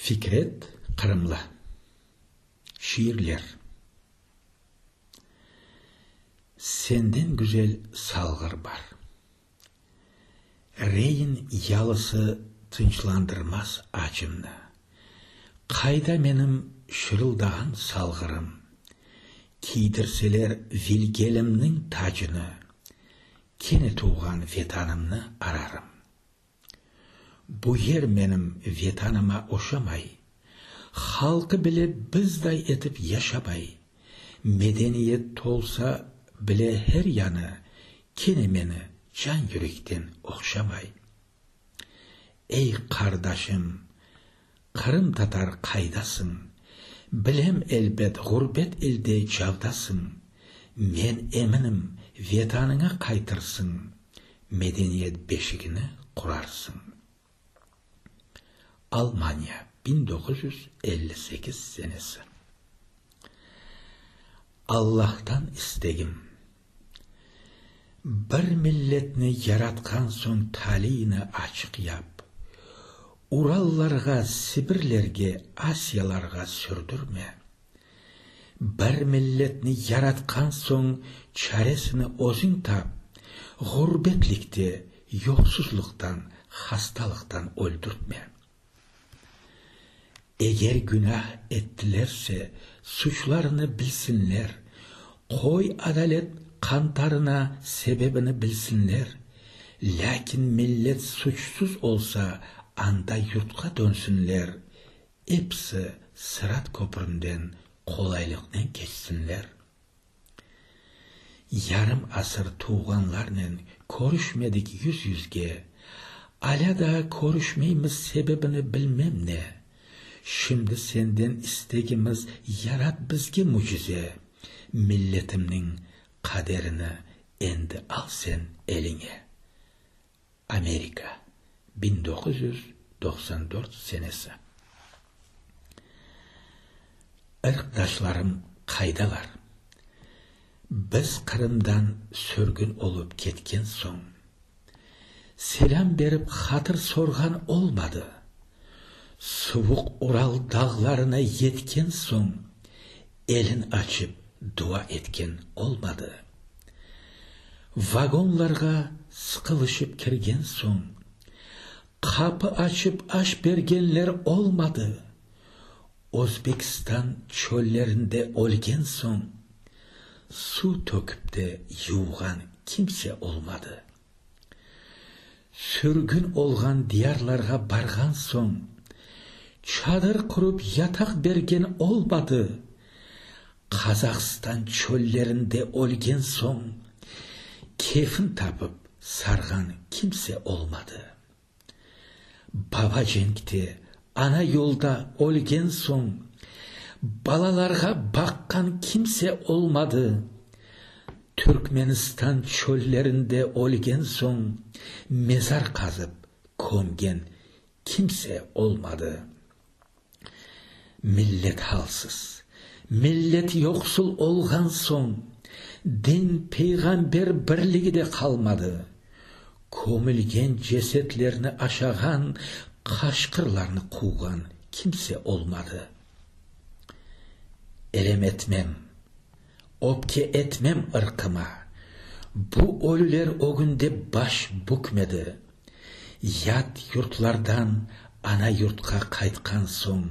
Fikret Qırımlı. Şiirler. Senden güzel salğır bar. Reyin yalısı tınçlandırmaz acımnı. Qayda menim şırıldağan salğırım? Kiydirseler vilgelimniñ tacını, kene tuvğan Vetanımnı ararım. Bu yer menim Vetanıma oşamay, halqı bile bizday etip yaşamay, medeniyet tolsa bile her yanı, kene meni can yürekten oqşamay. Ey qardaşım! Qırımtatar qaydasıñ? Bilem, elbet, ğurbet elde cavdasıñ. Men eminim, vetanıña qaytırsıñ, medeniyet beşigini qurarsıñ. Almaniya, biñ doquz yüz elli sekiz senesi. Allahtan istegim, Bir milletni yaratqan soñ taliyni açıq yap. Urallarğa, Sibirlerge, Asiyalarğa sürdürme. Bir milletni yaratqan soñ çaresini özüñ tap, ğurbetlikte, yoqsuzlıqtan, hastalıqtan öldürtme. Eger günah ettilerse, suçlarını bilsinler, qoy adalet qantarına sebebini bilsinler, lâkin millet suçsuz olsa, anda yurtqa dönsünler, episi sırat köpründen qolaylıqnen keçsinler. Yarım asır tuvğanlarnen körüşmedik yüz-yüzge, alâ daa körüşmeymiz sebebini bilmem ne. Şimdi senden istegimiz yarat bizge mücize, milletimniñ qaderini endi al sen eliñe. Amerika, biñ doquz yüz doqsan dört senesi. Irqdaşlarım qaydalar? Biz Qırımdan sürgün olıp ketken soñ, selâm berip hatır sorğan olmadı. Suvuq Ural dağlarına yetken soñ, Elin açıp dua etken olmadı. Vagonlarğa sıqılışıp kirgen soñ, qapı açıp aş bergenler olmadı. Özbekstan çöllerinde ölgen soñ, suv tökip de yuvğan kimse olmadı. Sürgün olğan diyarlarğa barğan soñ, çadır qurıp yataq bergen olmadı. Qazahstan çöllerinde ölgen soñ, kefin tapıp sarğan kimse olmadı. Baba cenkte, ana yolda ölgen soñ, balalarğa baqqan kimse olmadı. Türkmenistan çöllerinde ölgen soñ, mezar qazıp kömgen kimse olmadı. Millet halsız, millet yoqsul olğan soñ, din, peyğamber birligi de qalmadı. Kömülgen cesetlerni aşağan, qaşqırlarnı quvğan kimse olmadı. Elem etmem. Öpke etmem ırqıma. Bu ölüler ögünde baş bükmedi. Yat yurtlardan ana yurtqa qaytqan soñ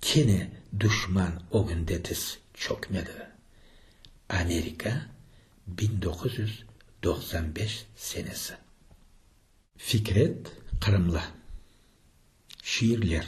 kene duşman ögünde tiz çökmedi. Amerika, biñ doquz yüz doqsan beş senesi. Fikret Qırımlı. Şiirler.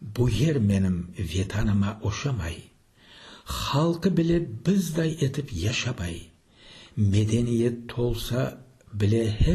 Bu yer menim Vetanıma oşamay, halqı bile bizday etip yaşamay, medeniyet tolsa bile her